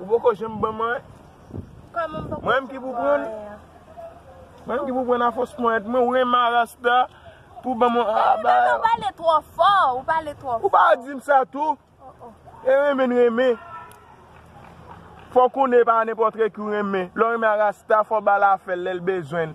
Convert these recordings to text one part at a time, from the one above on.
Ou poko janm banm anyen. Mwen menm ki pou prann. Mwen menm ki pou prann a fos ponyèt mwen. Ou renmen a rasta pou banm yon a ba. Ou pale tro fò. Ou pale tro fò. Ou pa dim sa tou. E renmen n renmen. Fò konnen pa nenpòtre ki ou renmen. Lè ou renmen a rasta fò bal afèl lèl bezwen.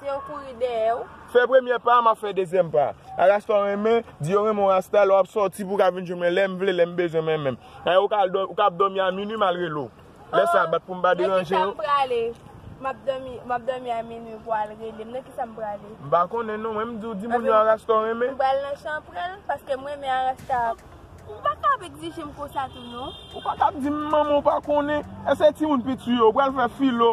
Te yo kouri dèyè ou. Fè premyè pa a map fè dezyèm pa a. A rasta w renmen, di yo renmen w rasta lè wap sòti pou w ka vin jwenn mwen lèm vle lèm bezwen mwen menm. Ayè ou ka ap dòmi a minwi mal rele w. Lè sa bat pou m pa deranje yo. Nan kisa m prale? Map dòmi a minwi pou al rele m nan kisa m prale? M pa konnen non mwen m di w di moun yo a rasta w renmen. M pral nan chanpren l paske m renmen a rasta a. Ou pa ka ap egzije m konsa tou non. Ou pa ka ap di m manman w pa konnen. Eseye timoun pi tu yo. Ou pral fè filo.